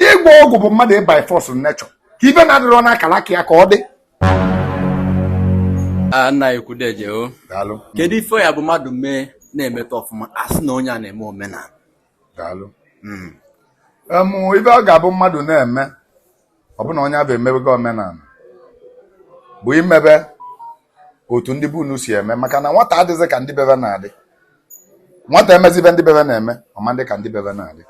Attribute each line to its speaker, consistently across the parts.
Speaker 1: ịgwọ ọgwụ bụ mmadụ ị by force nature ka ive na-adịrọ n'akara aka ya ka ọ
Speaker 2: dị nna ekwu deje o kedu ife
Speaker 1: ya bụ mmadụ
Speaker 2: mee na-emeta ọfụma a sị na onye a na-eme omenala daalụ
Speaker 1: hmm. ive ọ ga-abụ mmadụ na-eme ọ bụ na onye abụ emebego omenala bụ imebe otu ndị be unu si eme maka na nwata adịghịzị ka ndị bebe na-adị nwata emezi ive ndị bebe na-eme ọ ma adị ka ndị bebe na-adị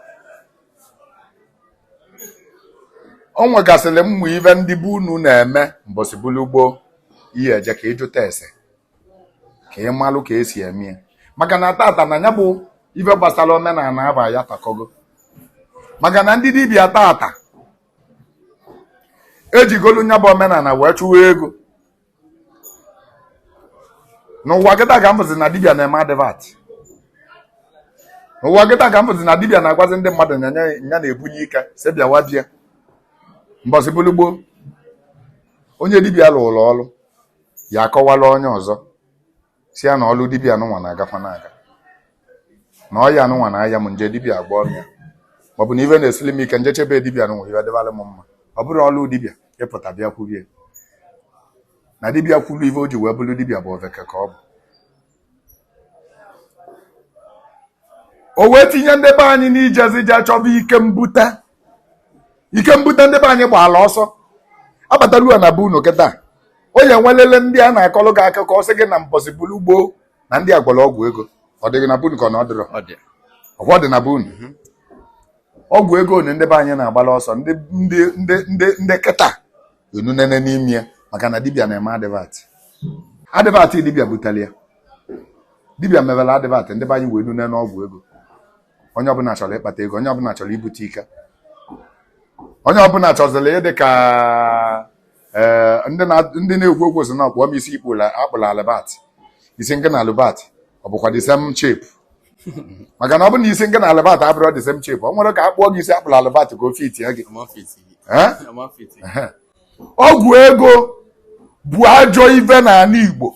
Speaker 1: o nwegasịrị ụmụ ive ndị be unu na-eme mbọsị bulu gboo ị ya-eje ka ị jụta ese ka ị malụ ka e si eme ya maka na tata na ya bụ ife gbasara omenala aba ya takọgo maka na ndị dibịa tata ejigolu nya bụ omenala wee chụwa ego n'ụwa kịta ka m bụzi na dibịa na-eme advert n'ụwa kịta ka m bụzi na dibịa na-agwazi ndị mmadụ na ya na-ebunye ike si bịawa bịa mbọsị bụrụ gboo onye dibịa lụrụ ọrụ ya akọwala onye ọzọ sị ya na ọlụ dibịa anụnwa na-agakwa na-aga na ọya anụnwa na-aya m m je dibịa agwọọ ya maọbụ na ife na-esili m ike m jeche be dibịa anụnwa ife dịbara m mma ọ bụrọ ọlụ dibịa ịpụta bịa kwubie na dibịa kwuru ife o ji wee bụrụ dibịa bụ oveke ka ọ bụ o wee tinye ndị be anyị n'ijezi je chọba ike mbute ike mbute ndị be anyị gbaala ọsọ abatalua na be unu kịta onye nwelele ndị a na-akọlụ gị akụkọ ọ sị gị na mbọsị bulu gboo na ndị a gwọrọ ọgwụ ego ọ dịghị na be unu ka ọ na ọ dịrọ ọgwọ dị na be unu mhm. ọgwụ ego na ndị be anyị na-agbala ọsọ ndị kịta enunene n'ime ya maka na dibịa na-eme advert advert dibịa butere ya dibịa mewere advert ndị be anyị wee nune n'ọgwụ ego onye ọbụla chọrọ ịkpata ego onye ọbụla chọrọ ibute ike onye ọbụla chọziri ịdị ka eh, ndị na- ndị na-ekwu okwu sị na ọ kpụọ m isi ị kpụlụ a kpụlụ Albert isi ngị na Albert ọ bụkwa the same shape maka na ọ bụ na isi ngị na Albert abụrọ the same shape o nwerọ ka a kpụọ gị isi a kpụlụ Albert ka o fitie gị ọ ma fit. Eh? ọ ma fit. ọgwụ ego bụ ajọ ife n'ana Igbo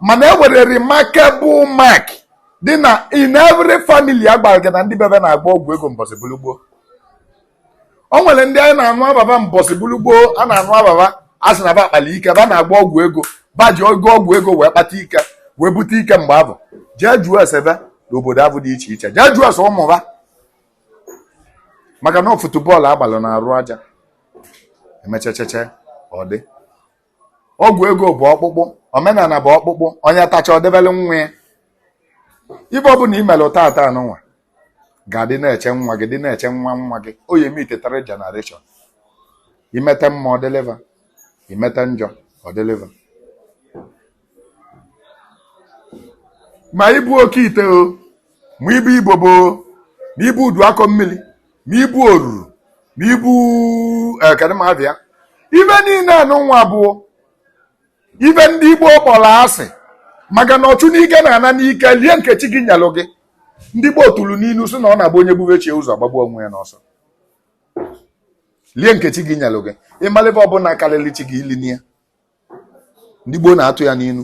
Speaker 1: mana e nwere remarkable mark dị na in every family a gwara gị na ndị bebe na-agwọ ọgwụ ego mbọsị bụrụ gboo o nwere ndị anyị na-anụ ava ba mbọsị bụrụ gboo a na-anụ ava ba a sị na ba kpalị ike ba na-agwọ ọgwụ ego ba ji ogo ọgwụ ego wee kpata ike wee bute ike mgbe abụ jee jụọ ese be n'obodo abụ dị iche iche jee jụọ ese ụmụ ba maka na ọ football a gbalụ n'arụ aja emechecheche ọ dị ọgwụ ego bụ ọkpụkpụ omenala bụ ọkpụkpụ onye tacha o debele nwa ya ibe ọbụla i mere tata anụnwa ga-adị na-eche nwa gị dị na-eche nwa nwa gị ọ ya-eme itetara generation i mete mma ọ dịlị va i mete njọ ọ dịlị va ma ibu oke ite o ma ibu ibobo ma ibu udu akọ mmiri ma ibu oruru ma ibu eh, kedụ m ava ya ibe niile anụnwa bụ ibe ndị igbo kpọrọ asị maka na ọchụ n'ike na-ana n'ike lie nke chi gị nyelu gị ndị gboo tụrụ n'inu sị na ọ na-abụ onye gbube chi ya ụzọ gbagbuo onwe ya n'ọsọ lie nke chi gị nyelu gị ị malụ ibe ọbụla karịrị chi gị elina ya ndị gboo na-atụ ya n'inu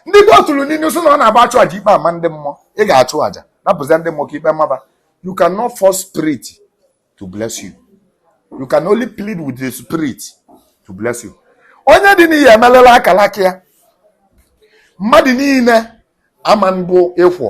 Speaker 1: ndị gboo tụrụ n'inu sị na ọ na-abụ achụ aja ikpe ama ndị mmụọ ị ga-achụ aja napụzia ndị mmụọ ka ikpe ma ba you cannot force spirit to bless you you can only plead with the spirit to bless you onye dị n'iyi emelela akalaka ya mmadụ niile ama mbụ ịkwọ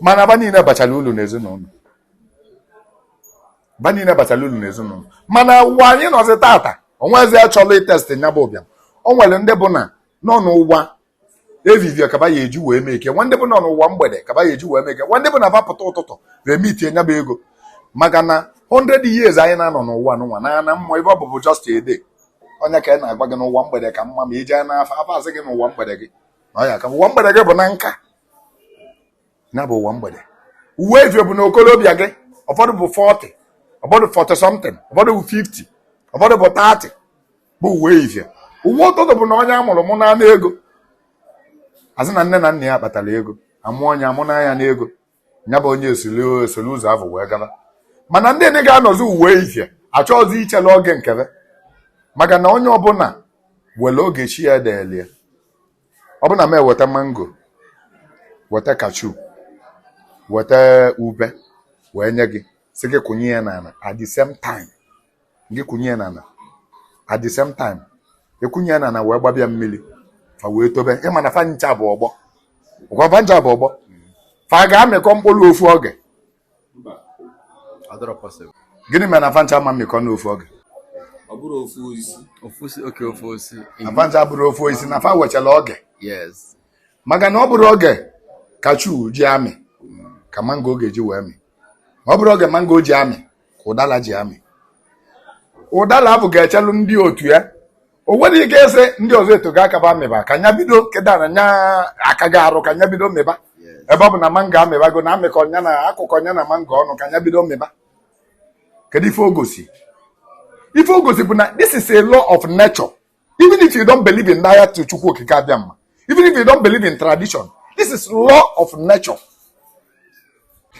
Speaker 1: mana ba niile bachara ulu n'ezinụlọ ba niile bachara ulu n'ezinụlọ mana ụwa anyị nọzi tata o nwezi achọlụ itest nya bụ ụbịam o nwere ndị bụ na nọ n'ụwa evivie ka ba ya-eji wee make ya nwee ndị bụ nọ n'ụwa mgbede ka ba ya-eji wee make ya nwee ndị bụ na ba pụta ụtụtụ remitie nya bụ ego maka na 100 years anyị na-anọ n'ụwa n'ụwa n'ana mmụọ ebe ahụ bụ just a day ọ nya ka a na-agwa gị na ụwa mgbede ka mma ma i jee n'afa afa asị gị na ụwa mgbede gị ọ ya ka ụwa mgbede gị bụ na nka nya bụ ụwa mgbede ụwa evivie bụ na okolobịa gị ụfọdụ bụ 40 ụfọdụ 40 something ụfọdụ bụ 50 ụfọdụ bụ 30 bụ ụwa evivie ụwa ụtụtụ bụ na onye amụrụ mụnye n'ego asị na nne na nna ya kpatara ego amụọ nya amụnye ya n'ego ya bụ onye esoro ụzọ ahụ wee gaba mana ndị ndị ga-anọzi ụwa evivie achọghịzi ichelu oge nke va maka na onye ọbụla nwere oge chi ya delụ ya ọ bụrụ na m eweta mango weta cashew weta ube wee nye gị sị gị kụnye ya n'ala at the same time gị kụnye ya n'ala at the same time akụnye ya n'ala wee gbaba ya mmiri fa wee tobe ị ma na fa ncha bụ ọgbọ ọkwa fa ncha bụ ọgbọ fa ga-amịkọ mkpụrụ ofu oge gịnị mere na fa ncha ma-amịkọ n'ofu
Speaker 2: oge na fa ncha abụrọ
Speaker 1: ofu osisi na fa nwechara
Speaker 2: oge maka na ọ
Speaker 1: bụrọ oge cashew ji amị ka mango ga-eji wee mịa ọ bụrọ oge mango ji amị ka ụdala ji amị ụdala avụ ga-echelụ ndị otu ya o nwere ike ịsị ndị ọzọ etego aka va mịba ka nya bido kịta na nya akago arụ ka nya bido mịba ebe ọ bụ na mango amịbago na amịkọ nya na akụkọ nya na mango ọnụ ka nya bido mịba kedu ife o gosi ife o gosi bụ na this is a law of nature even if you don't believe in that chukwu okike abịama even if you don't believe in tradition this is law of nature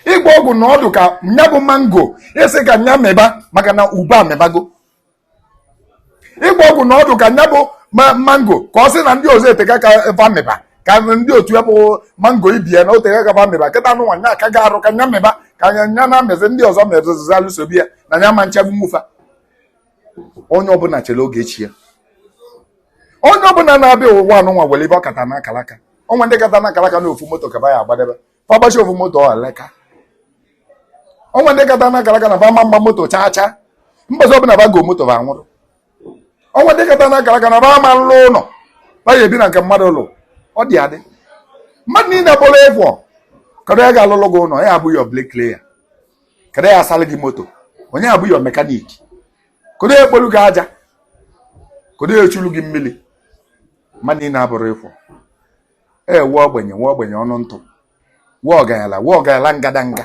Speaker 1: ịgba ọgwụ na ọdụ ka nya bụ mango sị ka nya mịba maka na ube amịbago ịgba ọgwụ na ọdụ ka nya bụ mango ka ọ sị na ndị ọzọ eteka ka va mịba ka ndị otu ya bụ mango ibe ye na o teka ka va mịba kịta anụnwa nya akago arụ ka nya mịba ka nya na-amịzị ndị ọzọ mezụzalụ sobe ya na nya ma nchebụ nwu fa onye ọbụla chere oge chi ya onye ọbụla na-abịa ụwa anụnwa nwere ife ọ kata na akalaka o nwe ndị kata na akalaka na ofu moto ka ba ya-agbadebe fa gbachi ofu moto ọleka o nwe ndị kata na akalaka na fa ma mgba moto chaa chaa mbọsị ọbụla ba go moto ba nwụrụ o nwe ndị kata na akalaka na ba ma nlụ ụlọ ba ya ebi na nke mmadụ lụ ọ dị adị mmadụ niile bụrụ equal kedu onye ga-alụlụ gị ụlọ ya-abụ your bricklayer kedu ya asalụ gị moto onye ya-abụ your mechanic kedu ya ekpolu gị aja kedu ya echulu gị mmiri mmadụ niine abụrọ equal e nwe ogbenye nwe ogbenye ọnụ ntụ nwe ọganyala nwe ọganyala ngadanga